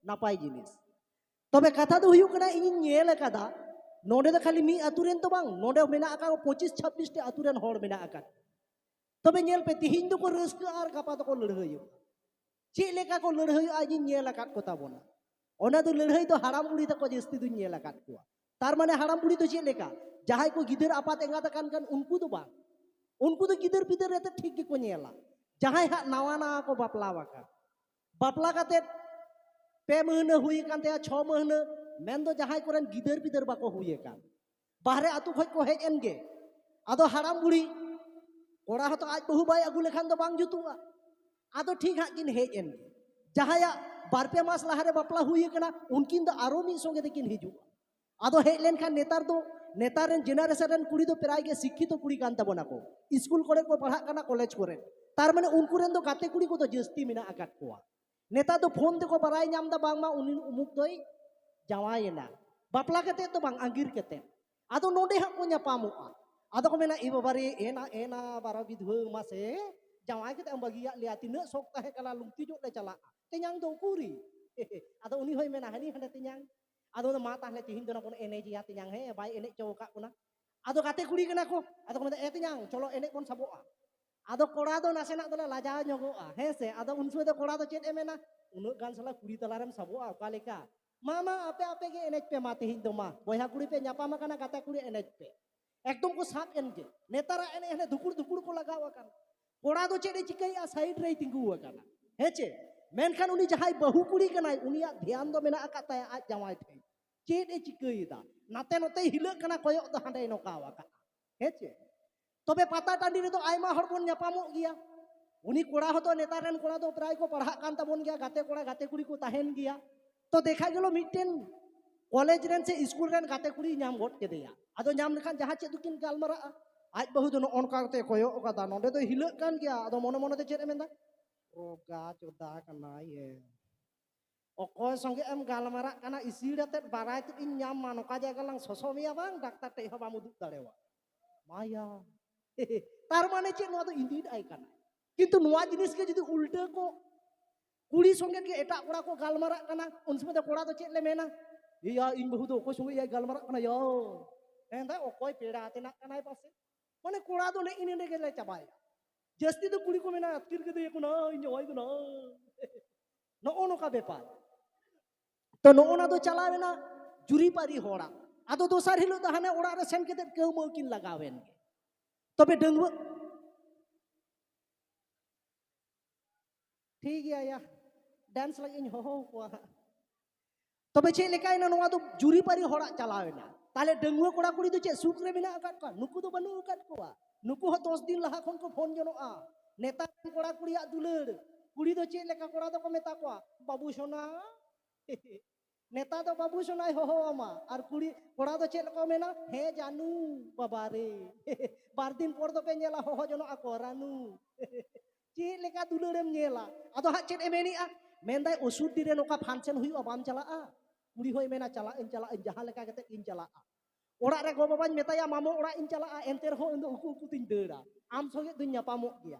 ᱱᱟᱯᱟᱭ ᱡᱤᱱᱤᱥ ᱛᱚᱵᱮ ᱠᱟᱛᱷᱟ ᱫᱚ ᱦᱩᱭᱩᱜ ᱠᱟᱱᱟ ᱤᱧᱤᱧ ᱧᱮᱞ ᱟᱠᱟᱫᱟ ᱱᱚᱰᱮ ᱫᱚ ᱠᱷᱟᱹᱞᱤ ᱢᱤᱫ ᱟᱛᱳ ᱨᱮᱱ ᱫᱚ ᱵᱟᱝ ᱱᱚᱰᱮ ᱢᱮᱱᱟᱜ ᱟᱠᱟᱫ ᱯᱚᱸᱪᱤᱥ ᱪᱷᱟᱵᱵᱤᱥ ᱴᱤ ᱟᱛᱳ ᱨᱮᱱ ᱦᱚᱲ ᱢᱮᱱᱟᱜ ᱟᱠᱟᱫ ᱛᱚᱵᱮ ᱧᱮᱞ ᱯᱮ ᱛᱤᱦᱤᱧ ᱫᱚᱠᱚ ᱨᱟᱹᱥᱠᱟᱹ ᱟᱨ ᱜᱟᱯᱟ ᱫᱚᱠᱚ ᱞᱟᱹᱲᱦᱟᱹᱭᱚᱜᱼᱟ ᱪᱮᱫ ᱞᱮᱠᱟ ᱠᱚ ᱞᱟᱹᱲᱦᱟᱹᱭᱚᱜᱼᱟ ᱤᱧᱤᱧ ᱧᱮᱞ ᱟᱠᱟᱫ ᱠᱚ ᱛᱟᱵᱚᱱᱟ ᱚᱱᱟ ᱫᱚ ᱞᱟᱹᱲᱦᱟᱹᱭ ᱫᱚ ᱦᱟᱲᱟᱢ ᱵᱩᱲᱦᱤ ᱛᱟᱠᱚ ᱡᱟᱹᱥᱛᱤ ᱫᱚᱧ ᱧᱮᱞ ᱟᱠᱟᱫ ᱠᱚᱣᱟ ᱛᱟᱨ ᱢᱟᱱᱮ ᱦᱟᱲᱟᱢ ᱵᱩᱲᱦᱤ ᱫᱚ ᱪᱮᱫ ᱞᱮᱠᱟ ᱡᱟᱦᱟᱸᱭ ᱠᱚ ᱜᱤᱫᱟᱹᱨ ᱟᱯᱟᱛ ᱮᱸᱜᱟᱛ ᱟᱠᱟᱱ ᱠᱟᱱ ᱩᱱᱠᱩ ᱫᱚ ᱵᱟᱝ ᱩᱱᱠᱩ ᱫᱚ ᱜᱤᱫᱟᱹᱨ ᱯᱤᱫᱟᱹᱨ ᱨᱮᱛᱮ ᱴᱷᱤᱠ ᱜᱮᱠᱚ ᱧᱮᱞᱟ ᱡᱟᱦᱟᱸᱭ ᱦᱟᱸᱜ ᱱᱟᱣᱟ ᱱᱟᱣᱟ ᱠᱚ ᱵᱟᱯᱞᱟ ᱟᱠᱟᱱ ᱵᱟᱯᱞᱟ ᱠᱟᱛᱮᱫ ᱯᱮ ᱢᱟᱹᱦᱱᱟᱹ ᱦᱩᱭ ᱟᱠᱟᱱ ᱛᱟᱭᱟ ᱪᱷᱚ ᱢᱟᱹᱦᱱᱟᱹ ᱢᱮᱱᱫᱚ ᱡᱟᱦᱟᱸᱭ ᱠᱚᱨᱮᱱ ᱜᱤᱫᱟᱹᱨ ᱯᱤᱫᱟᱹᱨ ᱵᱟᱠᱚ ᱦᱩᱭ ᱟᱠᱟᱱ ᱵᱟᱦᱨᱮ ᱟᱛᱳ ᱠᱷᱚᱡ ᱠᱚ ᱦᱮᱡ ᱮᱱ ᱜᱮ ᱟᱫᱚ ᱦᱟᱲᱟᱢ ᱵᱩᱲᱦᱤ ᱠᱚᱲᱟ ᱦᱚᱸᱛᱚ ᱟᱡ ᱵᱟᱹᱦᱩ ᱵᱟᱭ ᱟᱹᱜᱩ ᱞᱮᱠᱷᱟᱱ ᱫᱚ ᱵᱟᱝ ᱡᱩᱛᱩᱜᱼᱟ ᱟᱫᱚ ᱴᱷᱤᱠ ᱦᱟᱸᱜ ᱠᱤᱱ ᱦᱮᱡ ᱮᱱ ᱜᱮ ᱡᱟᱦᱟᱸᱭᱟᱜ ᱵᱟᱨ ᱯᱮ ᱢᱟᱥ ᱞᱟᱦᱟᱨᱮ ᱵᱟᱯᱞᱟ ᱦᱩᱭ ᱟᱠᱟᱱᱟ ᱩᱱᱠᱤᱱ ᱫᱚ ᱟᱨᱚ ᱢᱤᱫ ᱥᱚᱸᱜᱮ ᱛᱮᱠᱤᱱ ᱦᱤᱡᱩᱜᱼᱟ ᱟᱫᱚ ᱦᱮᱡ ᱞᱮᱱᱠᱷᱟᱱ ᱱᱮᱛᱟᱨ ᱫᱚ ᱱᱮᱛᱟᱨ ᱨᱮᱱ ᱡᱮᱱᱟᱨᱮᱥᱚᱱ ᱨᱮᱱ ᱠᱩᱲᱤ ᱫᱚ ᱯᱨᱟᱭ ᱜᱮ ᱥᱤᱠᱠᱷᱤᱛᱚ ᱠᱩᱲᱤ ᱠᱟᱱ ᱛᱟᱵᱚᱱᱟ ᱠᱚ ᱥᱠᱩᱞ ᱠᱚᱨᱮ ᱠᱚ ᱯᱟᱲᱦᱟᱜ ᱠᱟᱱᱟ ᱠᱚᱞᱮᱡᱽ ᱠᱚᱨᱮ ᱛᱟᱨ ᱢᱟᱱᱮ ᱩᱱᱠᱩ ᱨᱮᱱ ᱫᱚ ᱜᱟᱛᱮ ᱠᱩᱲᱤ ᱠᱚᱫᱚ ᱡᱟᱹᱥᱛᱤ ᱢᱮᱱᱟᱜ ᱟᱠᱟᱫ ᱠᱚᱣᱟ ᱱᱮᱛᱟᱨ ᱫᱚ ᱯᱷᱳᱱ ᱛᱮᱠᱚ ᱵᱟᱲᱟᱭ ᱧᱟᱢ ᱮᱫᱟ ᱵᱟᱝᱢᱟ ᱩᱱᱤ ᱩᱢᱩᱠ ᱫᱚᱭ ᱡᱟᱶᱟᱭᱮᱱᱟ ᱵᱟᱯᱞᱟ ᱠᱟᱛᱮ ᱫᱚ ᱵᱟᱝ ᱟᱸᱜᱤᱨ ᱠᱟᱛᱮ ᱟᱫᱚ ᱱᱚᱰᱮ ᱦᱟᱸᱜ ᱠᱚ ᱧᱟᱯᱟᱢᱚᱜᱼᱟ ᱟᱫᱚ ᱠᱚ ᱢᱮᱱᱟ ᱮ ᱵᱟᱵᱟᱨᱮ ᱮᱱᱟ ᱮᱱᱟ ᱵᱟᱨᱟ ᱵᱤᱫᱷᱣᱟᱹ ᱢᱟᱥᱮ ᱡᱟᱶᱟᱭ ᱠᱟᱛᱮ ᱮᱢ ᱵᱟᱹᱜᱤᱭᱟᱫ ᱞᱮᱭᱟ ᱛᱤᱱᱟᱹᱜ ᱥᱚᱠ ᱛᱟᱦᱮᱸ ᱠᱟᱱᱟ ᱞᱩᱝᱛᱤ ᱧᱚᱜ ᱞᱮ ᱪᱟᱞᱟᱜᱼᱟ ᱛᱮᱧᱟᱝ ᱫᱚ ᱩᱠᱩᱨᱤ ᱟᱫᱚ ᱩᱱᱤ ᱦᱚᱸᱭ ᱢᱮᱱᱟ ᱦᱟᱹᱱᱤ ᱦᱟᱸᱰᱮ ᱛᱮᱧᱟᱝ ᱟᱫᱚ ᱢᱟ ᱛᱟᱦᱞᱮ ᱛᱤᱦᱤᱧ ᱫᱚ ᱵᱚᱱ ᱮᱱᱮᱡᱮᱭᱟ ᱛᱮᱧᱟᱝ ᱦᱮᱸ ᱵᱟᱭ ᱮᱱᱮᱡ ᱪᱚ ᱟᱠᱟᱫ ᱵᱚᱱᱟ ᱟᱫᱚ ᱜᱟᱛᱮ ᱠᱩᱲᱤ ᱠᱟᱱᱟ ᱠᱚ ᱟᱫᱚ ᱠᱚ ᱢᱮᱱᱫᱟ ᱮ ᱛᱮᱧᱟᱝ ᱪᱚᱞᱚ ᱮᱱᱮᱡ ᱵᱚᱱ ᱥᱟᱵᱚᱜᱼᱟ ᱟᱫᱚ ᱠᱚᱲᱟ ᱫᱚ ᱱᱟᱥᱮᱱᱟᱜ ᱫᱚᱞᱮ ᱞᱟᱡᱟᱣ ᱧᱚᱜᱚᱜᱼᱟ ᱦᱮᱸ ᱥᱮ ᱟᱫᱚ ᱩᱱ ᱥᱚᱢᱚᱭ ᱫᱚ ᱠᱚᱲᱟ ᱫᱚ ᱪᱮᱫ ᱮ ᱢᱮᱱᱟ ᱩᱱᱟᱹᱜ ᱜᱟᱱ ᱥᱟᱞᱟ ᱠᱩᱲᱤ ᱛᱟᱞᱟᱨᱮᱢ ᱥᱟᱵᱚᱜᱼᱟ ᱚᱠᱟ ᱞᱮᱠᱟ ᱢᱟ ᱢᱟ ᱟᱯᱮ ᱟᱯᱮ ᱜᱮ ᱮᱱᱮᱡ ᱯᱮ ᱢᱟ ᱛᱤᱦᱤᱧ ᱫᱚ ᱢᱟ ᱵᱚᱭᱦᱟ ᱠᱩᱲᱤ ᱯᱮ ᱧᱟᱯᱟᱢ ᱟᱠᱟᱱᱟ ᱜᱟᱛᱮ ᱠᱩᱲᱤ ᱮᱱᱮᱡ ᱯᱮ ᱮᱠᱫᱚᱢ ᱠᱚ ᱥᱟᱵ ᱮᱱ ᱜᱮ ᱱᱮᱛᱟᱨᱟᱜ ᱮᱱᱮᱡ ᱦᱟᱱᱮ ᱫᱩᱠᱩᱲ ᱫᱩᱠᱩᱲ ᱠᱚ ᱞᱟᱜᱟᱣ ᱟᱠᱟᱱᱟ ᱠᱚᱲᱟ ᱫᱚ ᱪᱮᱫ ᱮ ᱪᱤᱠᱟᱹᱭᱮᱫᱼᱟ ᱥᱟᱭᱤᱰ ᱨᱮᱭ ᱛᱤᱸᱜᱩ ᱟᱠᱟᱱᱟ ᱦᱮᱸ ᱪᱮ ᱢᱮᱱᱠᱷᱟᱱ ᱩᱱᱤ ᱡᱟᱦᱟᱸᱭ ᱵᱟᱹᱦᱩ ᱠᱩᱲᱤ ᱠᱟᱱᱟᱭ ᱩᱱᱤᱭᱟᱜ ᱫᱷᱮᱭᱟᱱ ᱫᱚ ᱢᱮᱱᱟᱜ ᱟᱠᱟᱫ ᱛᱟᱭᱟ ᱟᱡ ᱡᱟᱶᱟᱭ ᱴᱷᱮᱱ ᱪᱮᱫ ᱮ ᱪᱤᱠᱟᱹᱭᱮᱫᱟ ᱱᱟᱛᱮ ᱱᱚᱛᱮ ᱦᱤᱞᱟᱹᱜ ᱠᱟᱱᱟ ᱠᱚᱭᱚᱜ ᱫᱚ ᱦᱟᱸᱰᱮᱭ ᱱᱚᱠᱟᱣ ᱟᱠᱟᱫᱼᱟ ᱦᱮᱸ ᱪᱮ ᱛᱚᱵᱮ ᱯᱟᱛᱟ ᱴᱟᱺᱰᱤ ᱨᱮᱫᱚ ᱟᱭᱢᱟ ᱦᱚᱲ ᱵᱚᱱ ᱧᱟᱯᱟᱢᱚᱜ ᱜᱮᱭᱟ ᱩᱱᱤ ᱠᱚᱲᱟ ᱦᱚᱸᱛᱚ ᱱᱮᱛᱟᱨ ᱨᱮᱱ ᱠᱚᱲᱟ ᱫᱚ ᱯᱨᱟᱭ ᱠᱚ ᱯᱟᱲᱦᱟᱜ ᱠᱟᱱ ᱛᱟᱵᱚᱱ ᱜᱮᱭᱟ ᱜᱟᱛᱮ ᱠᱚᱲᱟ ᱜᱟᱛᱮ ᱠᱩᱲᱤ ᱠᱚ ᱛᱟᱦᱮᱱ ᱜᱮᱭᱟ ᱛᱚ ᱫᱮᱠᱷᱟ ᱜᱮᱞᱚ ᱢᱤᱫᱴᱮᱱ ᱠᱚᱞᱮᱡᱽ ᱨᱮᱱ ᱥᱮ ᱥᱠᱩᱞ ᱨᱮᱱ ᱜᱟᱛᱮ ᱠᱩᱲᱤ ᱧᱟᱢ ᱜᱚᱫ ᱠᱮᱫᱮᱭᱟ ᱟᱫᱚ ᱧᱟᱢ ᱞᱮᱠᱷᱟᱱ ᱡᱟᱦᱟᱸ ᱪᱮᱫ ᱫᱚᱠᱤᱱ ᱜᱟᱞᱢᱟᱨᱟᱜᱼᱟ ᱟᱡ ᱵᱟᱹᱦᱩ ᱫᱚ ᱱᱚᱜᱼᱚ ᱱᱚᱝᱠᱟ ᱠᱟᱛᱮ ᱠᱚᱭᱚᱜ ᱟᱠᱟᱫᱟ ᱱᱚᱰᱮ ᱫᱚ ᱦᱤᱞᱟᱹᱜ ᱠᱟᱱ ᱜᱮᱭᱟ ᱟᱫᱚ ᱢᱚᱱᱮ ᱢᱚᱱᱮ ᱛᱮ ᱪᱮᱫ ᱮ ᱢᱮᱱᱫᱟ ᱨᱚᱜᱟ ᱪᱚᱫᱟ ᱠᱟᱱᱟᱭ ᱮ ᱚᱠᱚᱭ ᱥᱚᱸᱜᱮ ᱮᱢ ᱜᱟᱞᱢᱟᱨᱟᱜ ᱠᱟᱱᱟ ᱤᱥᱤᱲ ᱟᱛᱮᱫ ᱵᱟᱲᱟᱭ ᱛᱮᱫ ᱤᱧ ᱧᱟᱢ ᱢᱟ ᱱᱚᱝᱠᱟ ᱡᱟᱭᱜᱟ ᱞᱟᱝ ᱥᱚᱥᱚ ᱢᱮᱭᱟ ᱵᱟᱝ ᱰᱟᱠᱛᱟᱨ ᱴᱷᱮᱡ ᱦᱚᱸ ᱵᱟᱢ ᱩᱫᱩᱜ ᱫᱟᱲᱮᱣᱟ ᱢᱟᱭᱟ ᱛᱟᱨ ᱢᱟᱱᱮ ᱪᱮᱫ ᱱᱚᱣᱟ ᱫᱚ ᱤᱫᱤᱭᱮᱫ ᱟᱭ ᱠᱟᱱᱟ ᱠᱤᱱᱛᱩ ᱱᱚᱣᱟ ᱡᱤᱱᱤᱥ ᱜᱮ ᱡᱩᱫᱤ ᱩᱞᱴᱟᱹ ᱠᱚ ᱠᱩᱲᱤ ᱥᱚᱸᱜᱮ ᱜᱮ ᱮᱴᱟᱜ ᱠᱚᱲᱟ ᱠᱚ ᱜᱟᱞᱢᱟᱨᱟᱜ ᱠᱟᱱᱟ ᱩᱱ ᱥᱚᱢᱚᱭ ᱫᱚ ᱠᱚᱲᱟ ᱫᱚ ᱪᱮᱫ ᱞᱮ ᱢᱮᱱᱟ ᱤᱭᱟ ᱤᱧ ᱵᱟᱹᱦᱩ ᱫᱚ ᱚᱠᱚᱭ ᱥᱚᱸᱜᱮ ᱭᱟᱭ ᱜᱟᱞᱢᱟᱨᱟᱜ ᱠᱟᱱᱟ ᱭᱟ ᱢᱮᱱᱫᱟ ᱚᱠᱚᱭ ᱯᱮᱲᱟ ᱛᱮᱱᱟᱜ ᱠᱟᱱᱟᱭ ᱯᱟᱥᱮ ᱢᱟᱱᱮ ᱠᱚᱲᱟ ᱫᱚ ᱱᱮᱜ ᱤᱱᱟᱹ ᱨᱮᱜᱮ ᱞᱮ ᱪᱟᱵᱟᱭᱟ ᱡᱟᱹᱥᱛᱤ ᱫᱚ ᱠᱩᱲᱤ ᱠᱚ ᱢᱮᱱᱟ ᱟᱹᱛᱠᱤᱨ ᱠᱮᱫᱮᱭᱟ ᱠᱚ ᱱᱟ ᱤᱧ ᱡᱟᱶᱟᱭ ᱫᱚ ᱱᱟ ᱱᱚᱜᱼᱚ ᱱᱚᱝᱠᱟ ᱵᱮᱯᱟᱨ ᱛᱚ ᱱᱚᱜᱼᱚ ᱱᱟ ᱫᱚ ᱪᱟᱞᱟᱣᱮᱱᱟ ᱡᱩᱨᱤᱯᱟᱹᱨᱤ ᱦᱚᱲᱟᱜ ᱟᱫᱚ ᱫᱚᱥᱟᱨ ᱦᱤᱞᱳᱜ ᱫᱚ ᱦᱟᱱᱮ ᱚᱲᱟᱜ ᱨᱮ ᱥᱮᱱ ᱠᱟᱛᱮ ᱠᱟᱹᱣᱢᱟᱹᱣ ᱠᱤᱱ ᱞᱟᱜᱟᱣᱮᱱ ᱜᱮ ᱛᱚᱵᱮ ᱰᱟᱺᱜᱩᱣᱟᱹ ᱴᱷᱤᱠ ᱜᱮᱭᱟ ᱭᱟ ᱰᱮᱱᱥ ᱞᱟᱹᱜᱤᱫ ᱤᱧ ᱦᱚᱦᱚ ᱠᱚᱣᱟ ᱦᱟᱸᱜ ᱛᱚᱵᱮ ᱪᱮᱫ ᱞᱮᱠᱟᱭᱮᱱᱟ ᱱᱚᱣᱟ ᱫᱚ ᱡᱩᱨᱤᱯᱟᱹᱨᱤ ᱦᱚᱲᱟᱜ ᱪᱟᱞᱟᱣᱮᱱᱟ ᱛᱟᱦᱞᱮ ᱰᱟᱺᱜᱩᱣᱟᱹ ᱠᱚᱲᱟ ᱠᱩᱲᱤ ᱫᱚ ᱪᱮᱫ ᱥᱩᱠ ᱨᱮ ᱢᱮᱱᱟᱜ ᱟᱠᱟᱫ ᱠᱚᱣᱟ ᱱᱩᱠᱩ ᱫᱚ ᱵᱟᱹᱱᱩᱜ ᱟᱠᱟᱫ ᱠᱚᱣᱟ ᱱᱩᱠᱩ ᱦᱚᱸ ᱫᱚᱥ ᱫᱤᱱ ᱞᱟᱦᱟ ᱠᱷᱚᱱ ᱠᱚ ᱯᱷᱳᱱ ᱡᱚᱱᱚᱜᱼᱟ ᱱᱮᱛᱟᱨ ᱨᱮᱱ ᱠᱚᱲᱟ ᱠᱩᱲᱤᱭᱟᱜ ᱫᱩᱞᱟᱹᱲ ᱠᱩᱲᱤ ᱫᱚ ᱪᱮᱫ ᱞᱮᱠᱟ ᱠᱚᱲᱟ ᱫᱚᱠᱚ ᱢᱮᱛᱟ ᱠᱚᱣᱟ ᱵᱟᱹᱵᱩ ᱥᱚᱱᱟ ᱱᱮᱛᱟ ᱫᱚ ᱵᱟᱹᱵᱩ ᱥᱚᱱᱟᱭ ᱦᱚᱦᱚ ᱟᱢᱟ ᱟᱨ ᱠᱩᱲᱤ ᱠᱚᱲᱟ ᱫᱚ ᱪᱮᱫ ᱠᱚ ᱢᱮᱱᱟ ᱦᱮ ᱡᱟᱱᱩ ᱵᱟᱵᱟ ᱨᱮ ᱵᱟᱨ ᱫᱤᱱ ᱯᱚᱨ ᱫᱚᱯᱮ ᱧᱮᱞᱟ ᱦᱚᱦᱚ ᱡᱚᱱᱚᱜ ᱟᱠᱚ ᱨᱟᱱᱩ ᱪᱮᱫ ᱞᱮᱠᱟ ᱫᱩᱞᱟᱹᱲᱮᱢ ᱧᱮᱞᱟ ᱟᱫᱚ ᱦᱟᱸᱜ ᱪᱮᱫ ᱮ ᱢᱮᱱᱮᱜᱼᱟ ᱢᱮᱱᱫᱟᱭ ᱚᱥᱩᱨᱰᱤ ᱨᱮ ᱱᱚᱝᱠᱟ ᱯᱷᱟᱱᱥᱮᱱ ᱦᱩᱭᱩᱜᱼᱟ ᱵᱟᱢ ᱪᱟᱞᱟᱜᱼᱟ ᱠᱩᱲᱤ ᱦᱚᱸᱭ ᱢᱮᱱᱟ ᱪᱟᱞᱟᱜ ᱟᱹᱧ ᱪᱟᱞᱟᱜ ᱟᱹᱧ ᱡᱟᱦᱟᱸ ᱞᱮᱠᱟ ᱠᱟᱛᱮ ᱤᱧ ᱪᱟᱞᱟᱜᱼᱟ ᱚᱲᱟᱜ ᱨᱮ ᱜᱚ ᱵᱟᱵᱟᱧ ᱢᱮᱛᱟᱭᱟ ᱢᱟᱢᱚ ᱚᱲᱟᱜ ᱤᱧ ᱪᱟᱞᱟᱜᱼᱟ ᱮᱱᱛᱮ ᱨᱮᱦᱚᱸ ᱤᱧ ᱫᱚ ᱩᱠᱩ ᱩᱠᱩ ᱛᱤᱧ ᱫᱟᱹᱲᱟ ᱟᱢ ᱥᱚᱸᱜᱮ ᱫᱩᱧ ᱧᱟᱯᱟᱢᱚᱜ ᱜᱮᱭᱟ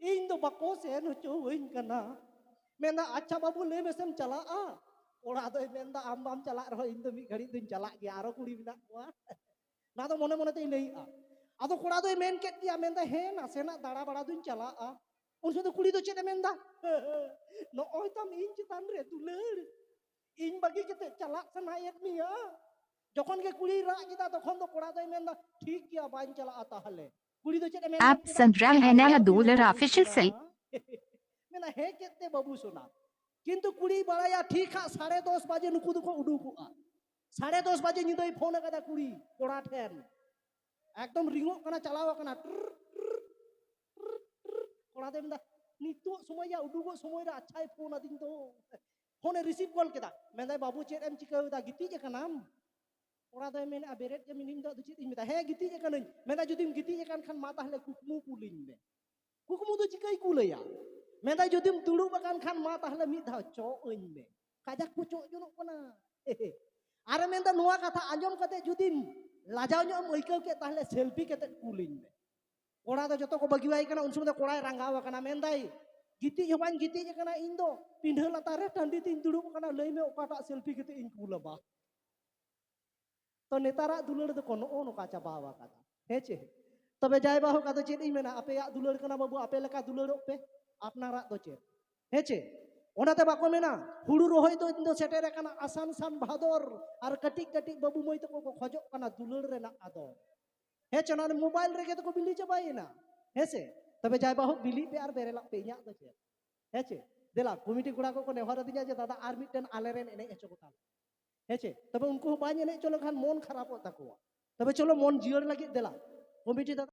ᱤᱧ ᱫᱚ ᱵᱟᱠᱚ ᱥᱮᱱ ᱦᱚᱪᱚᱣᱟᱹᱧ ᱠᱟᱱᱟ ᱢᱮᱱᱫᱟ ᱟᱪᱪᱷᱟ ᱵᱟᱹᱵᱩ ᱞᱟᱹᱭ ᱢᱮᱥᱮᱢ ᱪᱟᱞᱟᱜᱼᱟ ᱠᱚᱲᱟ ᱫᱚᱭ ᱢᱮᱱᱫᱟ ᱟᱢ ᱵᱟᱢ ᱪᱟᱞᱟᱜ ᱨᱮᱦᱚᱸ ᱤᱧ ᱫᱚ ᱢᱤᱫ ᱜᱷᱟᱹᱲᱤᱡ ᱫᱚᱧ ᱪᱟᱞᱟᱜ ᱜᱮᱭᱟ ᱟᱨᱚ ᱠᱩᱲᱤ ᱢᱮᱱᱟᱜ ᱠᱚᱣᱟ ᱱᱚᱣᱟ ᱫᱚ ᱢᱚᱱᱮ ᱢᱚᱱᱮ ᱛᱮᱭ ᱞᱟᱹᱭᱮᱜᱼᱟ ᱟᱫᱚ ᱠᱚᱲᱟ ᱫᱚᱭ ᱢᱮᱱ ᱠᱮᱫ ᱜᱮᱭᱟ ᱢᱮᱱᱫᱟ ᱦᱮᱸ ᱱᱟᱥᱮᱱᱟᱜ ᱫᱟᱬᱟ ᱵᱟᱲᱟ ᱫᱚᱧ ᱪᱟᱞᱟᱜᱼᱟ ᱩᱱ ᱥᱚᱢᱚᱭ ᱫᱚ ᱠᱩᱲᱤ ᱫᱚ ᱪᱮᱫ ᱮ ᱢᱮᱱᱫᱟ ᱱᱚᱜᱼᱚᱭ ᱛᱟᱢ ᱤᱧ ᱪᱮᱛᱟᱱ ᱨᱮ ᱫᱩᱞᱟᱹᱲ ᱤᱧ ᱵᱟᱹᱜᱤ ᱠᱟᱛᱮ ᱪᱟᱞᱟᱜ ᱥᱟᱱᱟᱭᱮᱫ ᱢᱮᱭᱟ ᱡᱚᱠᱷᱚᱱ ᱜᱮ ᱠᱩᱲᱤᱭ ᱨᱟᱜ ᱠᱮᱫᱟ ᱛᱚᱠᱷᱚᱱ ᱫᱚ ᱠᱚᱲᱟ ᱫᱚᱭ ᱢᱮᱱᱫᱟ ᱴᱷᱤᱠ ᱜᱮᱭᱟ ᱵᱟᱹᱧ ᱪᱟᱞᱟᱜᱼᱟ ᱛᱟᱦᱚᱞᱮ Apps and RAM and a dollar official sale. ᱢᱮᱱᱟ ᱦᱮ ᱠᱮᱫ ᱛᱮ ᱵᱟᱹᱵᱩ ᱥᱚᱱᱟ ᱠᱤᱱᱛᱩ ᱠᱩᱲᱤ ᱵᱟᱲᱟᱭᱟ ᱴᱷᱤᱠ ᱦᱟᱸᱜ ᱥᱟᱲᱮ ᱫᱚᱥ ᱵᱟᱡᱮ ᱱᱩᱠᱩ ᱫᱚᱠᱚ ᱩᱰᱩᱠᱚᱜᱼᱟ ᱥᱟᱲᱮ ᱫᱚᱥ ᱵᱟᱡᱮ ᱧᱤᱫᱟᱹᱭ ᱯᱷᱳᱱ ᱟᱠᱟᱫᱟ ᱠᱩᱲᱤ ᱠᱚᱲᱟ ᱴᱷᱮᱱ ᱮᱠᱫᱚᱢ ᱨᱤᱝᱚᱜ ᱠᱟᱱᱟ ᱪᱟᱞᱟᱣ ᱟᱠᱟᱱᱟ ᱠᱚᱲᱟ ᱫᱚᱭ ᱢᱮᱱᱫᱟ ᱱᱤᱛᱚᱜ ᱥᱚᱢᱚᱭ ᱭᱟ ᱩᱰᱩᱠᱚᱜ ᱥᱚᱢᱚᱭ ᱨᱮ ᱟᱪᱪᱷᱟᱭ ᱯᱷᱳᱱ ᱟᱹᱫᱤᱧ ᱫᱚ ᱯᱷᱳᱱᱮ ᱨᱤᱥᱤᱵᱷ ᱜᱚᱞ ᱠᱮᱫᱟ ᱢᱮᱱᱫᱟᱭ ᱵᱟᱹᱵᱩ ᱪᱮᱫ ᱮᱢ ᱪᱤᱠᱟᱹᱣᱮᱫᱟ ᱜᱤᱛᱤᱡ ᱟᱠᱟᱱᱟᱢ ᱠᱚᱲᱟ ᱫᱚᱭ ᱢᱮᱱᱮᱫᱼᱟ ᱵᱮᱨᱮᱫ ᱜᱮ ᱢᱤᱱᱟᱹᱧ ᱫᱚ ᱟᱫᱚ ᱪᱮᱫ ᱤᱧ ᱢᱮᱛᱟ ᱦᱮᱸ ᱜᱤᱛᱤᱡ ᱟᱠᱟᱱᱟᱹᱧ ᱢᱮᱱᱫᱟ ᱡᱩᱫᱤᱢ ᱜᱤᱛᱤᱡ ᱟᱠᱟᱱ ᱠᱷᱟᱱ ᱢᱟ ᱛᱟᱦᱞᱮ ᱠᱩᱠᱢᱩ ᱠᱩᱞᱤᱧ ᱢᱮ ᱠᱩᱠᱢᱩ ᱫᱚ ᱪᱤᱠᱟᱹᱭ ᱠᱩᱞᱟᱹᱭᱟ ᱢᱮᱱᱫᱟ ᱡᱩᱫᱤᱢ ᱫᱩᱲᱩᱵ ᱟᱠᱟᱱ ᱠᱷᱟᱱ ᱢᱟ ᱛᱟᱦᱞᱮ ᱢᱤᱫ ᱫᱷᱟᱣ ᱪᱚᱜ ᱟᱹᱧ ᱢᱮ ᱠᱟᱡᱟᱠ ᱠᱚ ᱪᱚᱜ ᱡᱚᱱᱚᱜ ᱠᱟᱱᱟ ᱟᱨᱮ ᱢᱮᱱᱫᱟ ᱱᱚᱣᱟ ᱠᱟᱛᱷᱟ ᱟᱸᱡᱚᱢ ᱠᱟᱛᱮ ᱡᱩᱫᱤ ᱞᱟᱡᱟᱣ ᱧᱚᱜ ᱮᱢ ᱟᱹᱭᱠᱟᱹᱣ ᱠᱮᱫ ᱛᱟᱦᱞᱮ ᱥᱮᱞᱯᱷᱤ ᱠᱟᱛᱮ ᱠᱩᱞᱤᱧ ᱢᱮ ᱠᱚᱲᱟ ᱫᱚ ᱡᱚᱛᱚ ᱠᱚ ᱵᱟᱹᱜᱤᱣᱟᱭ ᱠᱟᱱᱟ ᱩᱱ ᱥᱚᱢᱚᱭ ᱫᱚ ᱠᱚᱲᱟᱭ ᱨᱟᱸᱜᱟᱣ ᱟᱠᱟᱱᱟ ᱢᱮᱱᱫᱟᱭ ᱜᱤᱛᱤᱡ ᱦᱚᱸ ᱵᱟᱹᱧ ᱜᱤᱛᱤᱡ ᱟᱠᱟᱱᱟ ᱤᱧ ᱫᱚ ᱯᱤᱸᱰᱷᱟᱹ ᱞᱟᱛᱟᱨ ᱨᱮ ᱴᱟᱺᱰᱤ ᱛᱤᱧ ᱫᱩᱲᱩᱵ ᱟᱠᱟᱱᱟ ᱞᱟᱹᱭ ᱢᱮ ᱚᱠᱟᱴᱟᱜ ᱥᱮᱞᱯᱷᱤ ᱠᱟᱛᱮ ᱤᱧ ᱠᱩᱞᱟᱢᱟ ᱛᱚ ᱱᱮᱛᱟᱨᱟᱜ ᱫᱩᱞᱟᱹᱲ ᱫᱚᱠᱚ ᱱᱚᱜᱼᱚ ᱱᱚᱝᱠᱟ ᱪᱟᱵᱟ ᱟᱠᱟᱫᱟ ᱦᱮᱸ ᱪᱮ ᱛᱚᱵᱮ ᱡᱟᱭ ᱵᱟᱦᱩᱠ ᱟᱫᱚ ᱪᱮᱫ ᱤᱧ ᱢᱮᱱᱟ ᱟᱯᱮᱭᱟᱜ ᱫᱩᱞᱟᱹᱲ ᱠᱟᱱᱟ ᱵᱟᱹᱵᱩ ᱟᱯᱮ ᱞᱮᱠᱟ ᱫᱩᱞᱟᱹᱲᱚᱜ ᱯᱮ ᱟᱯᱱᱟᱨᱟᱜ ᱫᱚ ᱪᱮᱫ ᱦᱮᱸ ᱪᱮ ᱚᱱᱟᱛᱮ ᱵᱟᱠᱚ ᱢᱮᱱᱟ ᱦᱩᱲᱩ ᱨᱚᱦᱚᱭ ᱫᱚ ᱤᱧ ᱫᱚ ᱥᱮᱴᱮᱨ ᱟᱠᱟᱱᱟ ᱟᱥᱟᱱ ᱥᱟᱱ ᱵᱷᱟᱫᱚᱨ ᱟᱨ ᱠᱟᱹᱴᱤᱡ ᱠᱟᱹᱴᱤᱡ ᱵᱟᱹᱵᱩ ᱢᱟᱹᱭ ᱛᱟᱠᱚ ᱠᱚ ᱠᱷᱚᱡᱚᱜ ᱠᱟᱱᱟ ᱫᱩᱞᱟᱹᱲ ᱨᱮᱱᱟᱜ ᱟᱫᱚ ᱦᱮᱸ ᱪᱮ ᱱᱚᱣᱟ ᱢᱳᱵᱟᱭᱤᱞ ᱨᱮᱜᱮ ᱛᱚᱠᱚ ᱵᱤᱞᱤ ᱪᱟᱵᱟᱭᱮᱱᱟ ᱦᱮᱸ ᱥᱮ ᱛᱚᱵᱮ ᱡᱟᱭ ᱵᱟᱦᱩᱠ ᱵᱤᱞᱤ ᱯᱮ ᱟᱨ ᱵᱮᱨᱮᱞᱟᱜ ᱯᱮ ᱤᱧᱟᱹᱜ ᱫᱚ ᱪᱮᱫ ᱦᱮᱸ ᱪᱮ ᱫᱮᱞᱟ ᱠᱚᱢᱤᱴᱤ ᱠᱚᱲᱟ ᱠᱚᱠᱚ ᱱᱮᱦᱚᱨ ᱟᱹᱫᱤᱧᱟ ᱡᱮ ᱫᱟᱫᱟ ᱟᱨ ᱢᱤᱫᱴᱮᱱ ᱟᱞᱮᱨᱮᱱ ᱮᱱᱮᱡ ᱦᱚᱪᱚ ᱠᱚᱛᱟ ᱦᱮᱸ ᱪᱮ ᱛᱚᱵᱮ ᱩᱱᱠᱩ ᱦᱚᱸ ᱵᱟᱭ ᱮᱱᱮᱡ ᱦᱚᱪᱚ ᱞᱮᱠᱷᱟᱱ ᱢᱚᱱ ᱠᱷᱟᱨᱟᱯᱚᱜ ᱛᱟᱠᱚᱣᱟ ᱛᱚᱵᱮ ᱪᱚᱞᱚ ᱢᱚᱱ ᱡᱤᱭᱟᱹᱲ ᱞᱟᱹᱜᱤᱫ ᱫᱮᱞᱟ ᱠᱚᱢᱤᱴᱤ ᱫᱟᱫᱟ